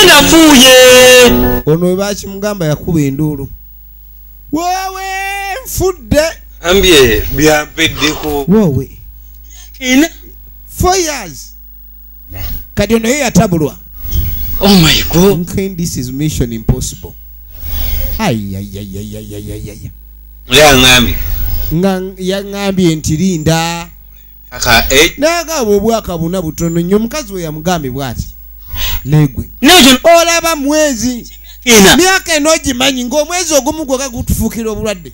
nafuuye ono webakimugamba yakuba enduulu wowe nfudde ambye byampeddeko wowe ina four years kati ono ye yatabulwa oh my god okay, this is mission impossible ayayayayayayaya yangambye nga yangambye nti linda eh? naye agaba obwakabuna butono nnyo omukazi we yamugambye bwati negwe olaba mwezi myaka eno ogimanyi ngaomwezi ogumu gweka gutufuukira obulwadde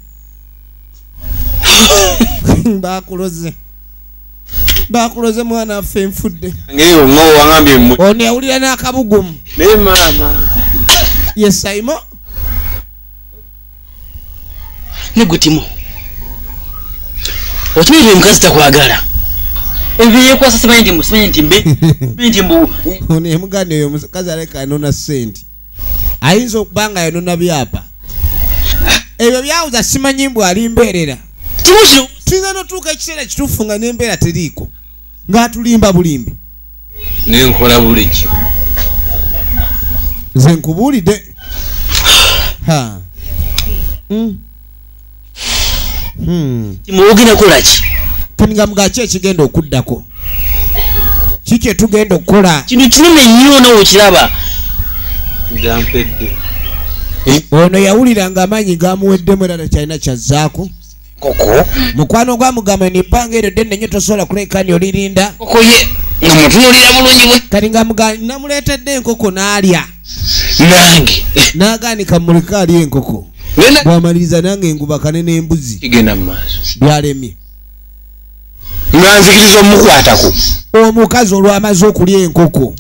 bakuloze bakuloze mwana affe enfudde ono yawulira n'akabugumu yesaimo negutimu okimanyi nti omukazi takwagala ebyo yekwasa simanyi nti simanyi nti mbe simanyi nti mbu ono emuganda oyo omukazi aleka anona sente ayinza okuba nga yanona byapa ebyo byawuza simanyi mbu ali mbeerera tuyinza notuuka ekiseera kituufu nga nembeera teriiko ng'atulimba bulimbi nenkola buli kimu nze nkubuulidde ha hmm. hmm. muwogerakolaki nga mugaki ekigenda okuddako ki kyetugenda okukola kintu kinene nnyo nawe okiraba gampedde ono yawulira nga amaanyi gamuweddemu era nakyalina kyazzaako koko mukwano gwa mugamba ni banga ero denne nyo tosobola kuleka ni olirinda koko ye nga mutunulira bulungi bwe kati nga mugamba namuletedde enkoko nalya nange naganika muleka ali enkoko bwamaliriza nange ngubakane n'embuzi igenda mu maaso byalemye nga nzikiriza omukwatako omukazi olwamaze okulya enkoko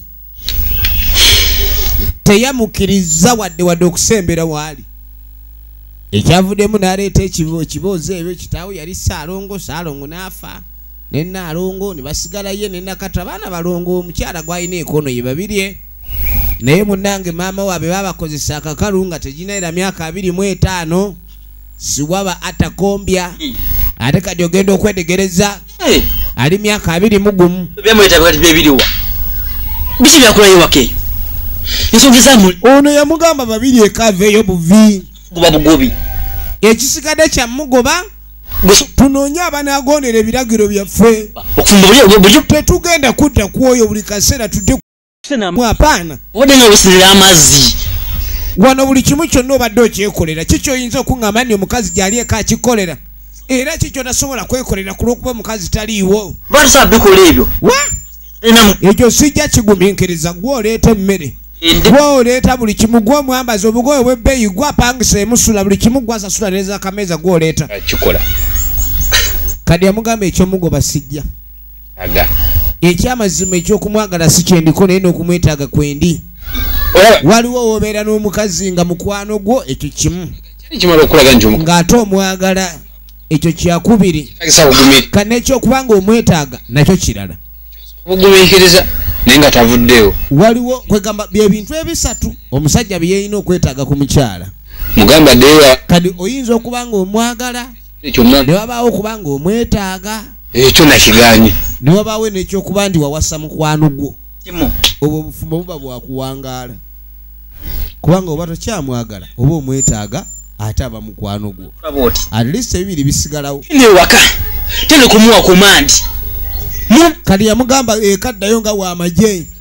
teyamukiriza wadde wadde okusembera waali ekyavuddemu n'aleeta ekiboozi ebyo kitaawe yali saalongo saalongo n'afa ne naalongo ne basigala ye ne nakata baana balongo omukyala gwalina ekono ye babirye naye munnange maama waabwe babakozesa akakalu nga teginaera myaka abiri mu etaano siwaba atakombya ate kati ogenda okwetegereza eh. ali myaka abiri mugumu byamwetabikatibebiriwa biki byakulayo wakeyo ensonga ezamuli ono yamugamba babiri ekaveeyo buvi guba bugobi ekisikade kyamugoba tunoonye abanagondera ebiragiro byaffe tetugenda kudda kwoyo buli kaseera tudde hapana obadde nga wesinira amazzi wano buli kimu kyonna obadde okyekolera ki kyoyinza okuŋŋamba nti omukazi gyali eka akikolera era ki kyotasobola kwekolera ku lw'okuba omukazi taliiwo batusa bikola ebyo ekyo sijja kigumiikiriza gwe oleeta emmere gwe oleeta buli kimu gwe omwambazi obugoye obwebbeeyi gwe apangisa emusula buli kimu gwe asasula nezakameeza gwe oleeta kikola kadi amugamba ekyomugoba sijja ekyamazima ekyokumwagala si kyendiko naye nokumwetaaga kwendi waliwo wobeera n'omukazi nga mukwano gwo ekyo kimu ng'ate omwagala ekyo kyakubiri kana ekyokuba nga omwetaaga nakyo kirala ogumiikiriza naye nga tavuddeewo waliwo kwegamba byebintu ebisatu omusajja byeyina okwetaaga ku mukyala mugamba dewa kadi oyinza okuba nga omwagala kyonna ne wabaawo okuba nga omwetaaga ekyo nakiganye ne wabaawo nekyokuba ndi wawasa mukwano gwo obwo obufumbo buba bwakuwangaala kubanga oba tokyamwagala oba omwetaaga ate aba mukwano gwo at least ebibiri bisigalawo newaka tene kumuwa kumandi kati yamugamba ekaddayo nga wamagye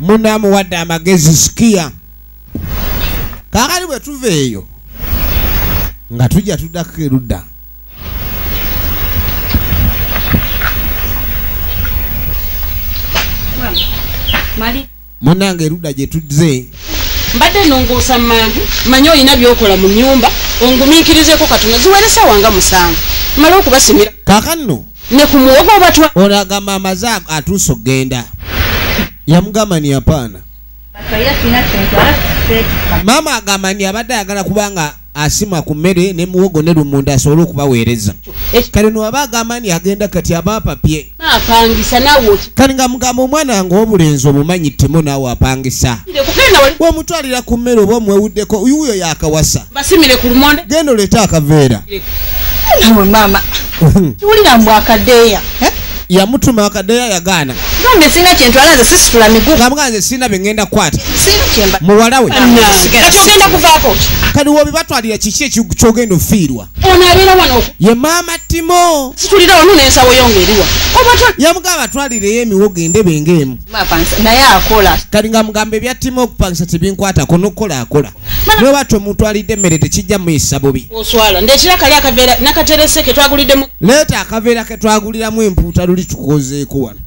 muna amuwadde amagezi sikiya kakati bwe tuva eyo nga tujja tuddako erudda munange erudda gye tuzze mbadde nonguusa manju manye olina byokola mu nyumba ongumiikirizeko katono ziweresawa nga musanvu male okubasimira kakanno ne ku muwogo obatwa ono agamba amaze atuusa okugenda yamugamba ni yapaana maama agamba ni abadde ayagala kubanga asima ku mmere ne muwogo ne lumunda asobole okubaweereza kale nowaba agamba ni agenda kati aba apapye kati nga mugamba omwana nga obulenzi omumanyi timo naawe apangisa bwomutwalira ku mmere oba omwewuddeko uyo yakawasa genda oleete akaveera kiwulira mbu akadeeya eh? yamutuma akadeeya yagaana gambe sirina kyentwala nze sisitula miguu ngamuga nze sirina bye ŋŋenda kukwata muwala we kati ogenda kuvaako kati wobibatwalira kiki ekyogenda ofiirwa ono abeera wano ye maama timo situlira wano nensawo yo ngaeriwa yamuga abatwalireyo emiwogo endebe ngaemu naye akola kati nga mugamba ebya timo okupangisa tebinkwatako nokukola akola nobatu omutwalidde emmere tekijja muyisa bubi leeta akaveera ketwaguliramu empuuta luli tukozeeko wano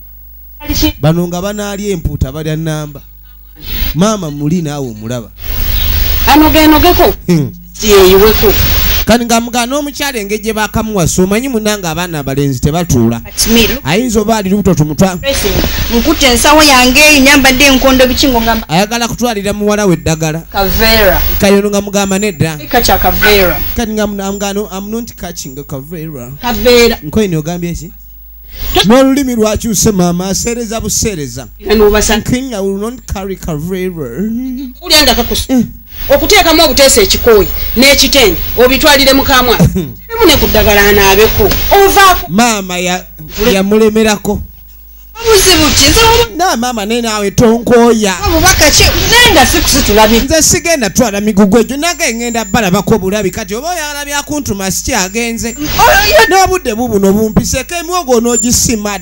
bano nga banaalya empuuta balya namba maama muli naawe omulaba anogenogeko hmm. yeyiweko kani nga mugana omukyala engeri gye bakamuwasa omanyi munange abaana abalenzi tebatuula ayinza oba ali lubuto tumutwa nkutte ensawo yange nyambadde enkondo biki ngo ngamba ayagala kutwalira muwala we eddagala kavera kayono nga mugamba nedda kacha kavera kati nga mugano am not catching kavera kavera nkoye ni ogambye ki n'olulimi lwakyuse maama aseereza buseereza nkinya will not carry kavera okuteekamu obuteesa ekikooyi n'ekitenge obitwalire mukamwa emu ne ku ddagala anaabeko ovaako maama yamulemerako obuzibu ki na maama naye naawe tonkooya obubaka ki naye nga sikusitulabi nze sigenda twala migugu egyo nage ngenda balabako obulabi kati oba oyagala byakuntuma sikyagenze n'obudde bubuno bumpiseko emwogo onoogisimad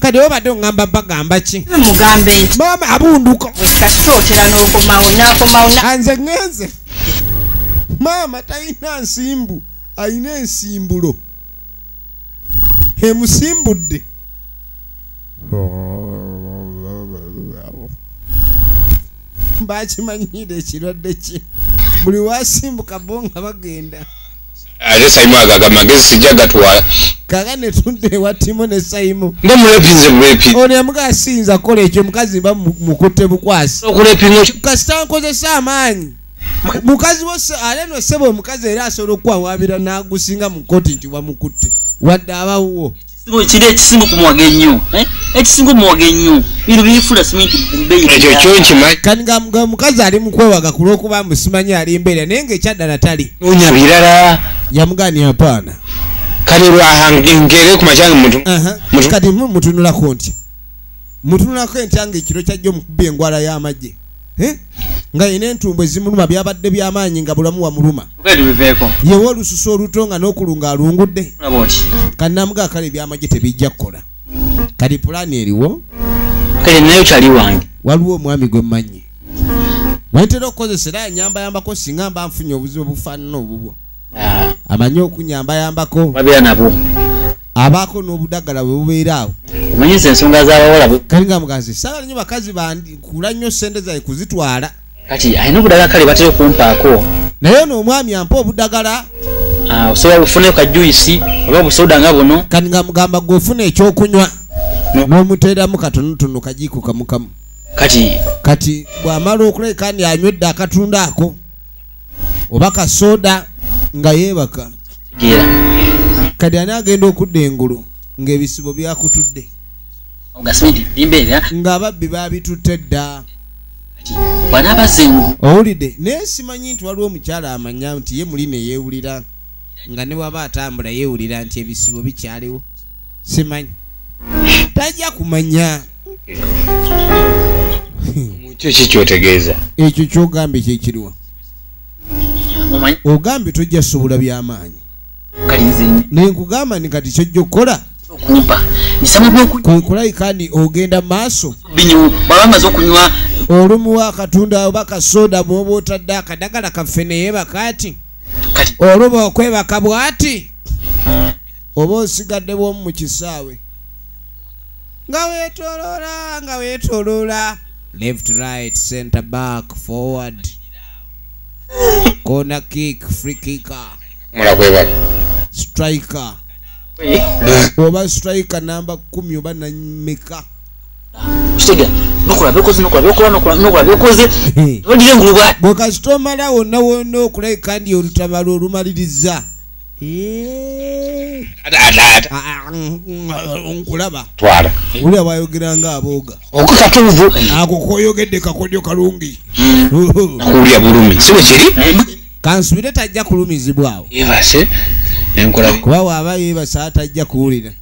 kati obadde oŋamba bagamba ki mama abunduko anze ŋenze maama talina nsimbu alina ensimbulo emusimbudde bakimanyiira ekirwadde kye buli wasimbuka bo nga bagenda ate saimu ago agamagezi sijja gatwala kaga netudde ewa timu ne saimu nga mulepinze bulepi ono yamuga asinza kukola ekyo mukazi mba mukutte bukwasi kasita nkozesa amaanyi mukazi wose ale no sebo omukazi era asobola okukwawabira n'agusinga mu koti nti wamukutte wadde abawuwo kiri ekisinga okumuwaga ennyo eh? ekisinga omuwaga ennyo bino bifula siminti ekyo kyonkima kati nga mukazi ali mukwewaga ku lwokuba musimanyi ali mbeera naye nga ekyaddala tali nonya birala yamugani apaana kati lwahangere ku makyanga mutu kati mutunulako ntya mutunulako entya nga ekiro kyajja omukuba engwala y'amagye eh? nga yina entumbu ezimuluma byabadde byamaanyi nga bulamu wamuluma yewa olususu oluto nga nokulunga alungudde kanamuga kale ebyamagye tebijja kukola kati pulaani eriwo waliwo omwami gwe mmanyi wentera okukozesa era anyambayambako singa mba nfunye obuzibu obufaanana obubwo ah. amanyi okunyambayambako abaako n'obudagala bwe bubeera awo omanyiza ensonga z'abawala kali nga mugazi sala nnyo bakazi bandikula nnyo ssente zaye kuzitwala kati alina obudagala kale batera okumpaako naye ono omwami ampa obudagala ah, osobola bufunayo ka juisi oba busoda nga buno kati nga mugamba gwe ofuna ekyokunywa n'omuteeramu katonotono kajiiko kamukamu kati kati bw'amala okuleka ni anywedde akatunda ako oba kasoda nga yebaka kati ani agenda okudda engulu ngaebisibo byakutudde ngaababbi babitutte dda owulidde naye simanyi nti waliwo omukyala amanya nti ye muli neyewulira nga ne waba atambula yewulira nti ebisibo bikyaliwo simanyi tajja kumanya kyo ki kyotegeeza ekyo kyogambye kyekiriwa ogambye tojja sobola byamaanyi naye nkugamba ni kati kyojja okukola kwekulabika ni ogenda maaso olumuwa akatunda oba kasoda bwoba otadde akadagala kaffe neyebaka ati oluba okwebaka bwati oba osigadde bwomu mu kisaawe nga wetolola nga wetolola left right center back forward corner kick free kicker mula kweba striker oba striker namba 10 oba nameka kitega nokola byokoze nokola byokola nokola nokola byokoze odire ngulubwa bwekasita omala wonna wonna okulabika ndi olutabalo olumaliriza Eh. nkulaba twala uli abayogera nga aboga okukatuvu ako koyogedde kakodyo kalungi kulya bulumi siwe kiri kansubire tajja kulumizibwawo kuba waaba yebasa atajja kuwulira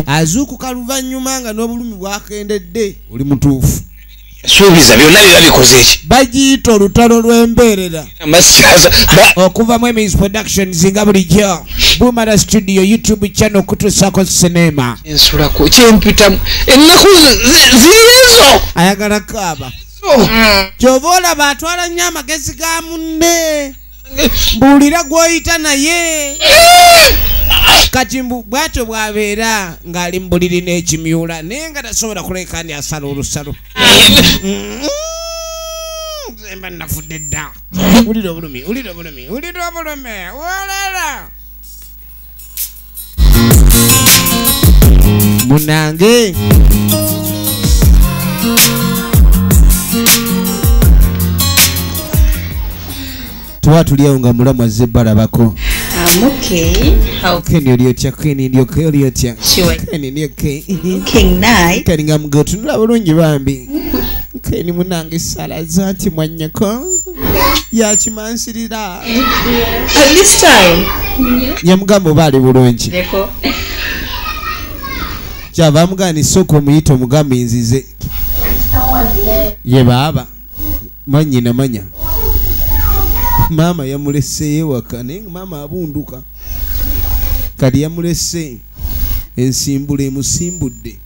azuukuka luvannyuma nga n'obulumi bwakendedde oli mutuufu suubiza byonna biba bikoze eki bagiyita olutalo lw'embeerera okuva mu emis productions nga bulijjo bumara studio youtube channel okutuusako sinema ensulako kyempitamu ennaku ziriyezo ayagala kaaba kyova olaba atwala nnyo amagezi ga munne mbuulira gw'oyita naye kati mbu bwatyo bwabeera ng'ali mu buliri n'ekimyula naye nga tasobola kuleka ndi asala olusalo zemba mm-hmm. nafudde dda wulira obulumi wulira obulumi wulira obulumi wolera munange tuba tuliawo nga mulamu azze balabako I'm okay. How Can you do check in in your kill your check? Sure. Can you okay? King night. Can you go to love lungi bambi? Can you munange sala zati mwanyako? Ya chimansirira. At this time. Nyamugamba oba ali bulungi. Neko. Kyava amugani soko omuyita omugamba inzize. Ye baaba. Manyi na manya. Mama yamulese yewaka naye mama abunduka. Kadi yamulese ensimbule musimbudde.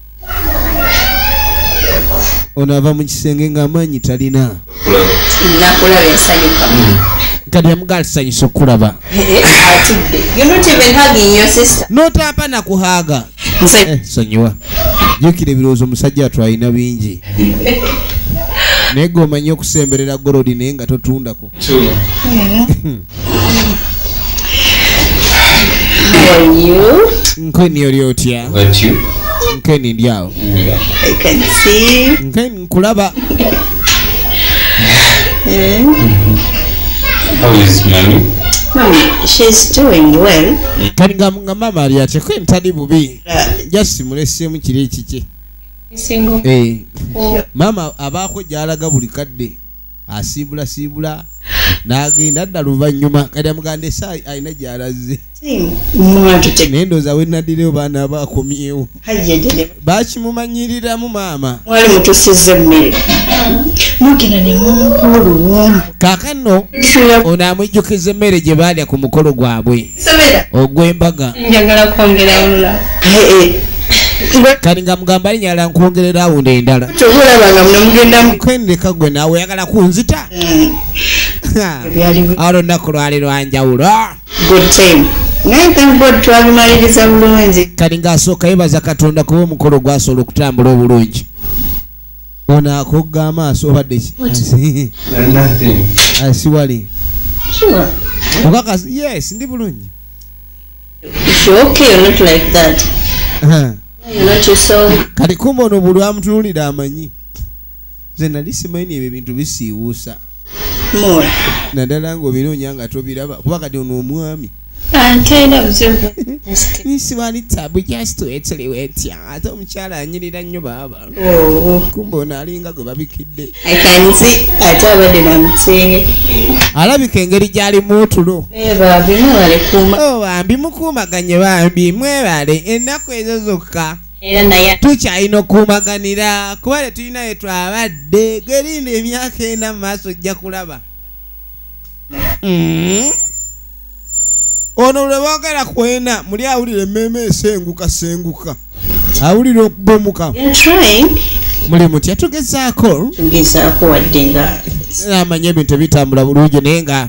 ono ava mu kisenge ng'amaanyi talina nakulaba ensanyuka kati yamugaala kisanyusa okukulaba notapa nakuhaaga eh, sonyiwa jukira ebirowoozo omusajja watu alina bingi naye gwe omanyi okusemberera gorodi naye nga totundako nkweni oli otya nkweni ndi awo nkweni nkulaba kati nga mama ali atya kweni tali bubi uh, just mulesemu kiri ekikye eh. mama abaako gyalaga buli kadde asiibula siibula n'agenda adda luvannyuma kati amuganda esaayi alina gy'alazze naye ndooza we nadireyo baana aba akomyewo bakimumanyiriramu maama mwali mutusiza emmere mugina ne mumukulu kaakano ono amujjukiza emmere gye baalya ku mukolo gwabwe ogwembaga kati nga mugamba ali nyala nkwongerera awundo endala kendeka gwe nawe oyagala kunzita mm. awo lunaku lwali lwanjawulo kati ngaasooka yebaza katonda kuba omukolo gwasobola okutambula obulungi ono akogga amaaso obadde asiwali okakasi yes ndi bulungi kati kumba ono bulwamutunulira amanyi nze nali simanyi ebyo ebintu bisiiwuusa naddala ngaobinoonya nga tobiraba kuba kati ono omwami nisiwali tabu just wetuli wetya ate omukyala anyirira nnyo baaba oh. kumba ono alinga gwe babikidde alabika engeri gyalimu otulo bambi mukuumaganye bambi mwebale ennaku ezo zokka era naye tukyalina okukumaganira kuba tetulina we twabadde gwerinda emyaka ena mu maaso ojja kulaba mm-hmm. ono lwe boogera kwena muli awulira emmeema esenguka senguka awulira okubomuka muli mutya tugezaako tugezaako wadde nga amanya ebintu ebitambula bulungi naye nga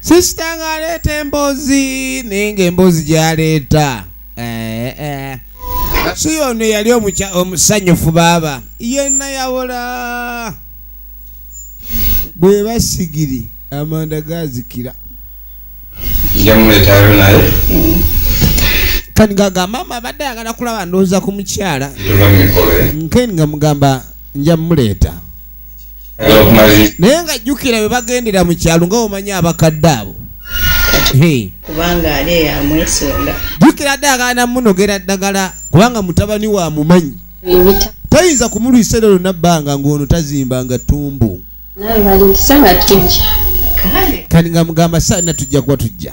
sisita ng'aleeta emboozi naye ng'emboozi gy'aleeta eh, eh. si yono yali omusanyufu baaba yenna yawola bwe basigiri amanda gazikira njamuleetayo naye kani gagamba ama abadde ayagala kulaba ndowooza ku mukyala nkeni nga mugamba njamuleeta naye nga jjukira bwe bagendera mu kyalo nga omanya abakadde abo kubanga ali eyamwesunga jjukira dde agana munogera ddagala kubanga mutabani wa mumanyi tayinza kumulwisa era lona bbanga ng'ono tazimba nga ttumbu kani nga mugamba saana tujja kuba tujja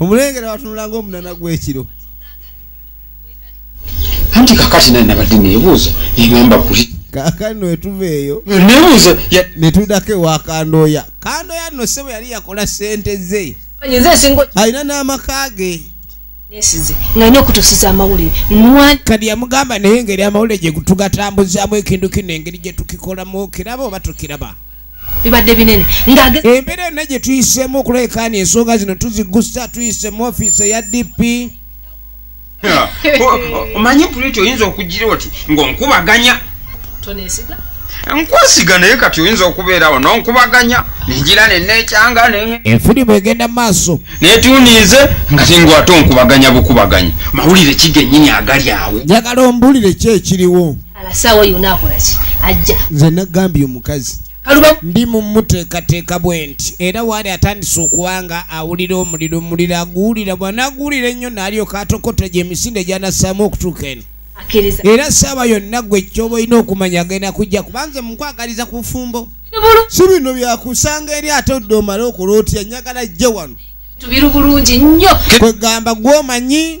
omulengera watunula ngaomunana gwekiro anti kakati naye nabadde nebuuza negamba kuli kakati netuva eyo nebuuza netudako ewa kandoya kandoya no sebo yali yakola sente ze alina n'amaka ge nesize nga nyo okutusiza amawulire kadi yamugamba naye engeri amawulire gyetugatambuzamu ekintu kino engeri gyetukikolamu kiraba oba tukiraba bibadde binene embeera yonna gye tuyiseemu okulekaana ensonga zino tuzigusa tuyise mu ofiisi eya dp omanyi puliti oyinza okugira oti ngaonkubaganya nkwesiga naye kati oyinza okubeerawo nonkubaganya nengira nenekyanga enfirimu egenda maaso naye tuniize nga tingwate onkubaganya bukubaganya mawulire kigenyini agali awo njagala ombulire ki ekiriwo alasaawa yona akolaki ajja nze nagambye omukazi ndi mumuteekateeka bwe nti era waali atandise okuba nga awulira omuliro omuliro aguwulira bwanaguwulira ennyo naalyoka atokota gye emisinde gyanassaamu okutuuka eno era saaba yonna gwe kyoba olina okumanya agenda kujja kubanze mukwagaliza ku bufumbo si bino byakusanga eri ate odde omale okulootiya nyagala jje wano tubiri bulungi nnyo kwegamba gwomanyi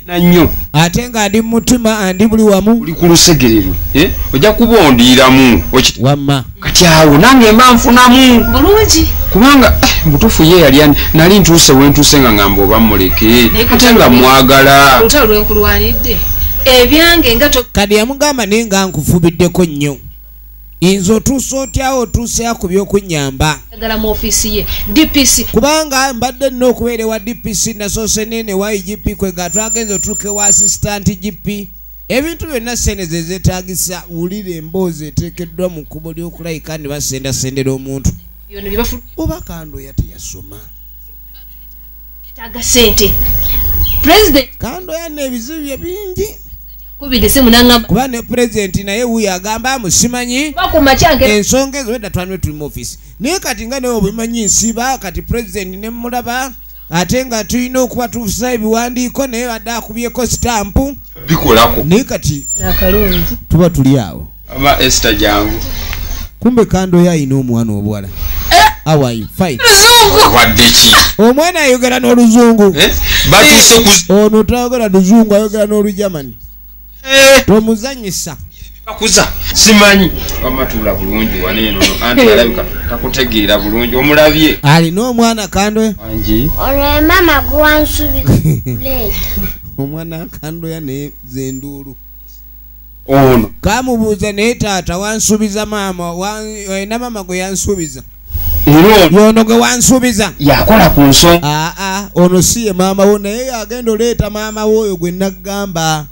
nanyo ate nga ndi mutima andi buli wamu uli kulusegererwe eh? ojja kubondiramu wamma kati awo nange mba nfunamu bulungi kubanga eh, mubutuufu ye yali ani nali ntuuse wentuuse nga ngamba oba muleke ate nga mwagala olutalo lwenkulwanidde ebyange nga kadi yamugamba naye nga nkufubiddeko nnyo inze otuusa otyawo otuuseya ku byokunyamba agala mu ofiisi ye dpc kubanga mbadde nina okubeera ewa dpc nasoose nene wa igp kwe nga twagenza otuuka ewa asisitanti gp ebintu byonna sente ze zeetagisa wulira emboozi eteekeddwa mu kkubo ly'okulayika ne basendasendera omuntu oba kandoya teyasoma kando yana ebizibu bye bingi kuba ne pulezidenti naye wuyo agamba musimanyi ensonga ezo edda twanwe tuli mu ofisi naye kati nga naye obimanyi nsiba kati pulezidenti ne mulaba ate nga tulina okuba tufusa ebiwandiiko naye badde akubyeko sitampu bikolako naye kati tuba tuli awo Mama Esther jangu. Kumbe kando ya ino mwana obwala. Eh? How are you? Fine. Luzungu. Wadechi. Omwana ayogera no luzungu. Eh? Batuse eh. ku Ono tayogera luzungu ayogera no lu German. Eh. Tomuzanyisa. Akuza. Simanyi. Mama tula bulungi wane no. Anti eh. alabika takutegeera bulungi omulabye. Ali no mwana kando. Anji. Ore mama gwansubi. Late. Omwana kando ya ne zenduru. ono kamubuuza naye taata wansuubiza maama olina maama gwe yansuubiza yono gwe wansuubiza yakola ku nso aa ono si ye maama wo naye yagenda oleeta maama wo oyo gwe naggamba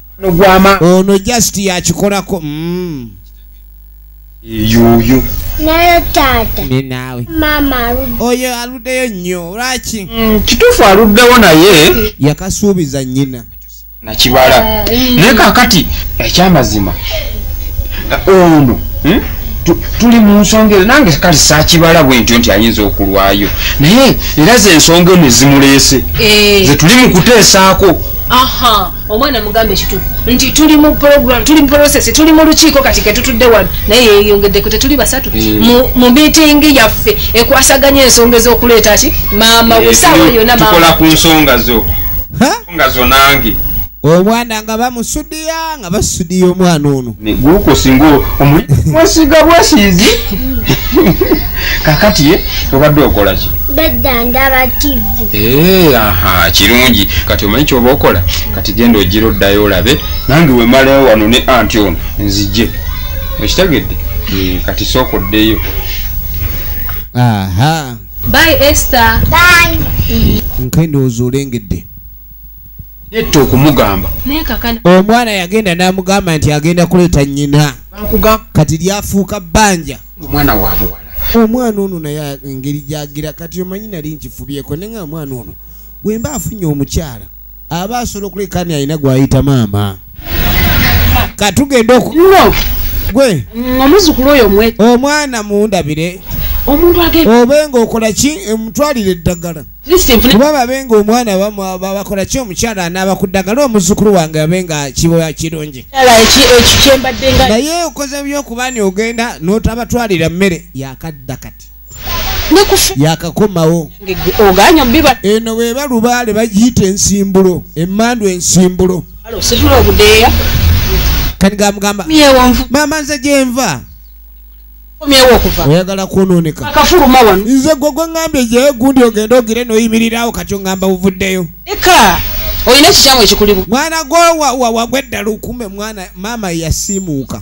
ono just yakikolako mm. yuyu naye taata ninawe maama aludde oyo aluddeyo nnyo lwaki mm, kituufu aluddewo naye yakasuubiza nnyina nakibala ah, eh. naye kakati ekyamazima ono hmm? tuli mu nsonga ezo nange kale sakibala bwentyo nti ayinza okulwayo naye era ze ensonga eno ezimuleese eh. ze tuli mu kuteesaako aha omwana mugambe kitufu nti tuli mu program tuli mu process tuli mu lukiiko kati ketutudde wano naye yeyongeddeko tetuli basatu eh. mu meeting yaffe ekwasaganya ensonga ez'okuleeta ki maama eh, wesaawa yona tukola ku nsonga zo nga zonange omwana nga bamusudiya nga basudiya omwana ono gukosinga omwesiga bwesizi kakati eh, obadde okolaki eh, aha kirungi kati omanyi kyoba okola kati genda ogira oddayo olabe nange wemalayo wano ne anti ono nzije okitegedde eh, kati sooka oddeyo aha Bye Esther. Bye. Nkendo ozulengedde. Netto okumugamba. Nekakana. Omwana yagenda namugamba nti agenda kuleta nyina. Bakugamba kati lyafuuka banja. Omwana wabuwa. Omwana ono naye engeri gyagira kati omanyi nali nkifubyeko nenga omwana ono wemba afunye omukyala aba asobola okulekani alina gwayita maama katugenda oku gwe omuzukulu oyo mwe omwana mundabire omuntu age obe nga okola ki emutwalire eddagala kuba babe nga omwana bakola ki omukyala anaaba ku ddagala omuzukulu wange abe nga kiboya kirungi naye okoze byokuba ni ogenda n'otabatwalira mmere yakadda kati yakakomawo eno weba lubaale bagiyita ensimbulo emandu ensimbulo kati gamugamba maama nze gyenva oyagala kwononeka nze gwe gweŋambye gyeyo gundi ogende ogire noyimirirawo kati oŋamba buvuddeyo olina ekikyamu ekikulimu mwana gwe wagweddalukume mwana maama yasiimuuka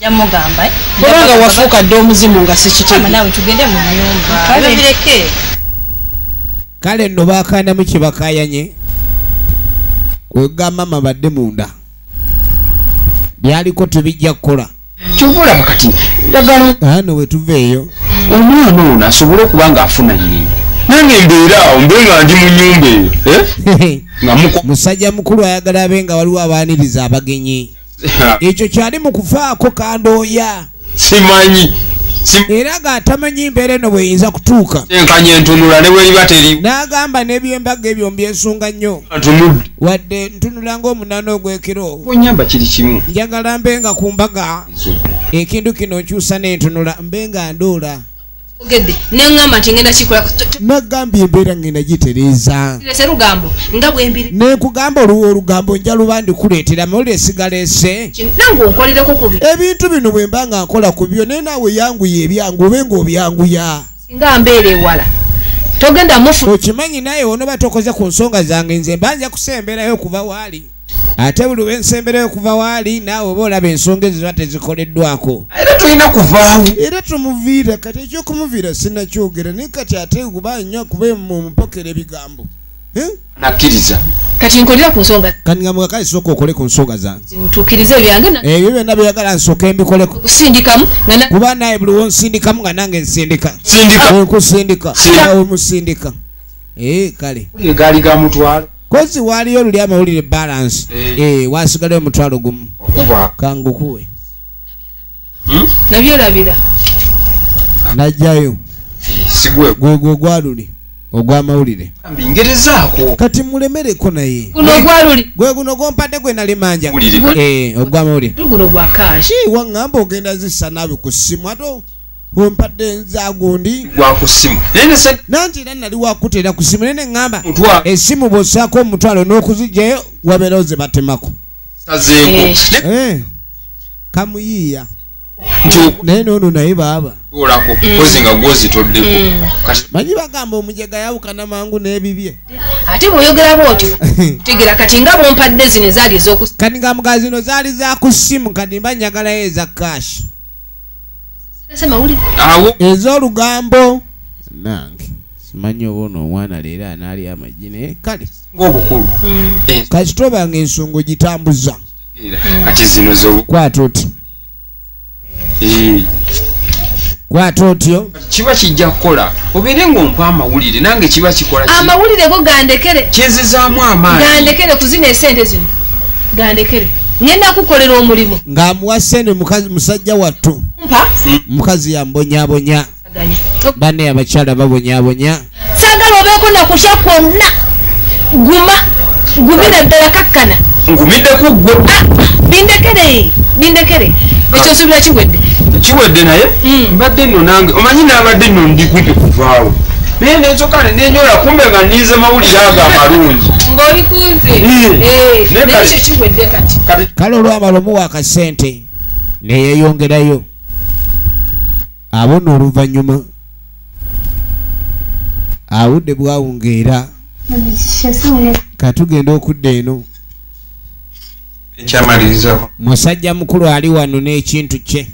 jamugamba eh? kubanga wafuuka dde omuzimu nga sikitegenawe tugende mu nyumba bireke kale nno bakandamu kyebakayanye kwegamba mabadde munda byaliko tebijja kukola kyovaolaba kati dagala ano wetuva eyo omwana ono asobole okuba nga afuna nyini nange mbeeraawo mbe nga ndi mu nyumba eyo eh? musajja mukulu ayagala abe nga waliwo abaaniriza abagenyi ekyo kyali mu kufaako kandooya simanyi era ng'atamanyi mbeera eno bweyinza kutuuka enkanya entunula ne bweriba teri n'agamba n'ebyembaga ebyo mbyesunga nnyo wadde ntunula ng'omunaana ogw'ekiro onyamba kiri kimu njagala mbe nga ku mbaga ekintu kino nkyusa n'entunula mbe nga ndoola ogedde neŋamba nti ngenda kikola nagambye embeera ngenda gitereeza lugambo nga bwembiri nekugamba oluwa olugambo nja luba ndikuleetera mawulire sigaleese nange onkolereko kubi ebintu bino bwe mba nga nkola ku byo naye naawe yanguya ebyangu obe nga obyanguya singa mbeera ewala togenda mufu okimanyi naye onoba tokoze ku nsonga zange nze mba nja kusemberayo okuva waali ate buli wensembera okuva waali naawe oba olaba ensonga ezo ziba tezikoleddwako era tulina kuvaawo era tumuviira kati ekyokumuviira sinakyogera naye kati ate kuba nyo kuba mumupokera ebigambo eh? nakkiriza kati nkolera ku nsonga kati nga mugakale sooka okole ku nsonga zange ntukirize ebyange eh, ebyo byonna byeyagala nsooka embikoleko kusindikamu kuba naye buli wonsindikamu nga nange nsindika nkusindika awe musindika eh, kale gaali ga mutwalo kozi waaliyo luli amawulire balance eh. eh, wasigalayo omutwalo gumu kangukuwe hmm? nabyerabira najjayo gwegwo gwaluli ogwamawulire kati mulemereko naye gwe guno gompadde gwe nali manja ogwamawulire waŋŋamba ogenda zissa naabi ku ssimu ate wempadde nza gundi wakusimu nanti era nali wakuteera ku simu naye neŋŋamba esimu bwossaako omutwalo n'okuzijjayo wabeerawo ze batemako eh. eh. kamuyiiya naye noono naye baaba mm. manyi bagamba omujega yawukana mangu n'ebibye ate bwoyogera bwotyo tegera kati nga bwompadde zino ezaali ezokus kati nga mugaa zino zaali za ku simu kati mba nyagalayo eza kashi ezolugambo nange simanyi oba ono omwana leero anaali amagi naye kale ngaobukulu mm. eh. kasita oba nga ensonga ogitambuza kati zino zokwata oti eh. kwata otyo kiba kijja kukola obeere ngaompa amawulire nange kiba kikola amawulire go gandekere kinzizaamu amaani gandekere kuzina esente zino gandekere ngenda kukolera omulimu ng'amuwa sente musajja wattu mukazi yambonyabonya banne abakyala babonyabonya sagala obeeko nakutya kwonna guma gumira ddala kakkana ngumidde ku ggwe ah, bindekere bindekere ekyo subira kiwedde kiwedde naye hmm. mbadde nno nange omanyi nabadde nno ndigwidde kuvaawo naye nensoka nenyola kumbe nga ninze mawulire ago amalungi kale olwamala omuwa akasente neyeyongerayo abo no oluvanyuma awudde bwawungeera katugenda okudda eno ekyamalirizawo musajja mukulu ali wano n'ekintu kye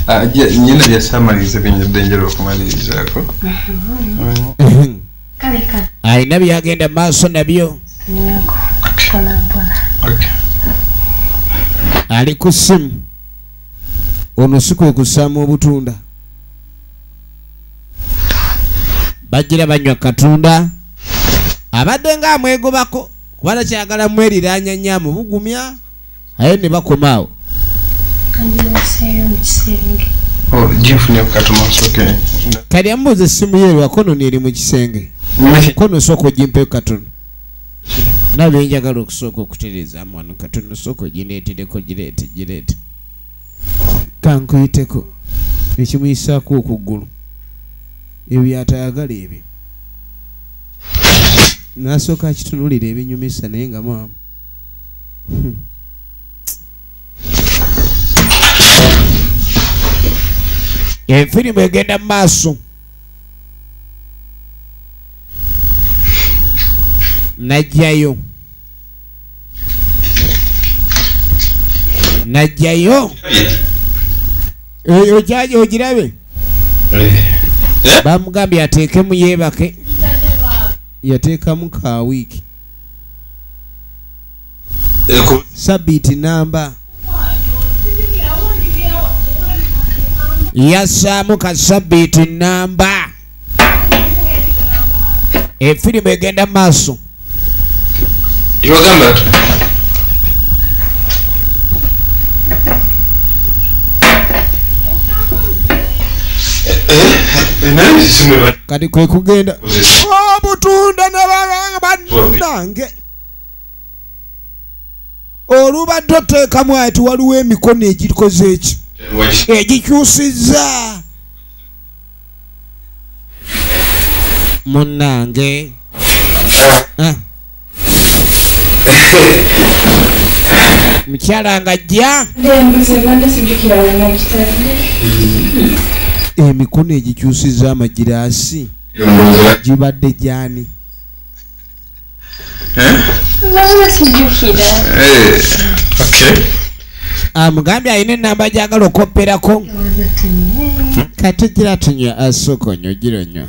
ah, nyina byasamaliriza byenyadde njala okumalirizako alina byagenda maaso nabyo ali ku simu ono si kwe kusaamu obutunda bajjira banywa katunda abadde nga amwegobako kuba takyagala mweriranya nnyo amubugumya aye ne bakoma awo oh, kati amubuuza essimu ye lwakono neeri mu kisenge kono osooka ogimpeo katono nga byenjagala okusooka okutereezaamu wano katono sooka ogineetereko gireete gireete kankuyiteko ekimuyisaako okuggulu ebyo byatayagala ebyo nasooka akitunulira ebinyumisa naye nga maama hmm. efirimu egenda mu maaso najjayo najjayo oyo kyaja ogirabe eh. bamugambye ateekemu yeebake yateekamu ka wiiki sabiiti namba yassaamu ka sabiiti namba efirimu egenda mu maaso Nice. kati kwe kugenda obutunda nabanange olubadde oteekamu ati waliwo emikono egikoze ekyo egikyusizza munnange ah. mukyala nga jja emikono egikyusiza amagiraasi gibadde gyani eh? eh, amugambye ah, alina enamba gyagala okopperako kati gira tunywa asooka onyo gira onywa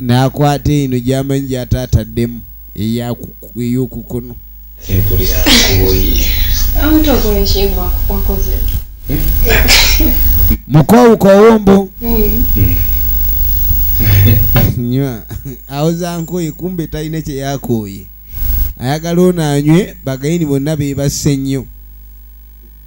nakwata eno gyamanyi gyataataddemu ey'okukono mukowukoowo mbu nywa awoza nkoye kumbe talina kyeyakooye ayagala ono anywe bagayini bonna bebasse nnyo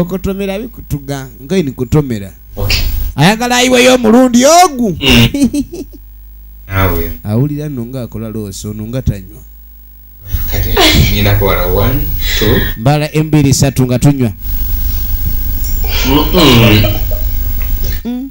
okotomera bikutuga ngai nikutomera ayagala ayiweyo omulundi ogu mm. awulira no nga akola loosi ono nga tanywa mbala embiri satu nga tunywa mm.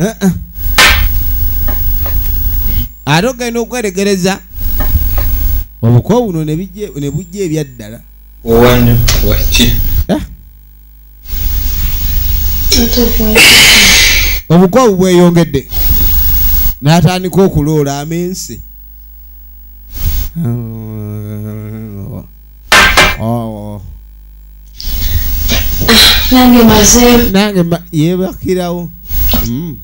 Eh, eh. ate ogenda okweregereza obuko buno ne bujja ebyaddala owanyo waki eh? obuko obu bweyongedde n'atandika okuloola amensi oh. nange maze nange yebakirawo mm.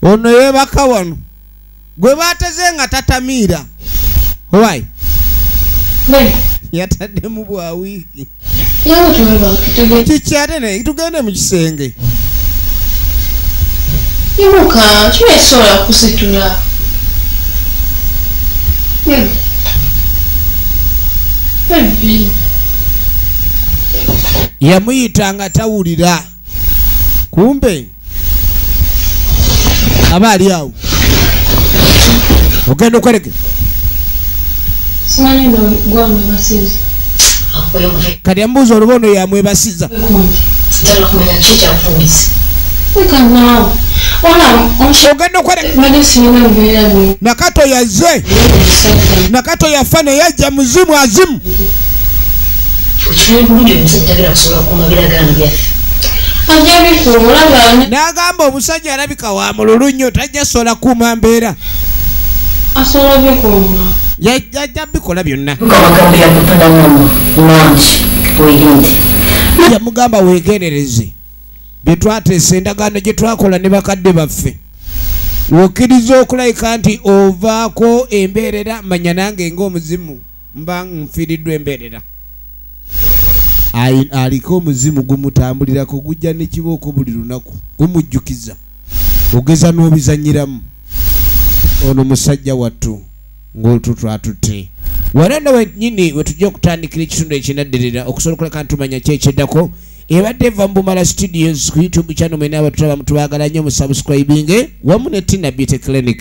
ono yebaka wano gwe bateze nga tatamiira owai yataddemu bwa wiiki kiki ate ne tugende mu kisenge imuka kiwesobola kusitula yamuyita nga tawulira kumbe aba ali awo ogenda okwereke kati amubuuza oluba ono yamwebasiza ogenda okwerekanakato yaze nakato yafa neyajja muzimu azimu n'agamba omusajja alabika wa mululu nnyo tajja sola kuuma mbeera yajja bikola byonna yamugamba weegendereze bye twateesa endagaano gye twakola ne bakadde baffe wokkiriza okulayika nti ovaako embeerera manya nange ng'omuzimu mba nfiiriddwa embeerera aliko omuzimu gumutambulirako gujja nekibooko buli lunaku gumujjukiza ogeza n'obizanyiramu ono musajja wattu ng'olutwo twatutte wano nno wenyini wetujja okutandikira ekitundu ekinaddirira okusobola okuleka ntumanya kyekyeddako ebadde eva mu bumala studios ku youtube channel mwena abatulaba mutubagala nnyo mu subscribinge wamu ne tina beauty clinic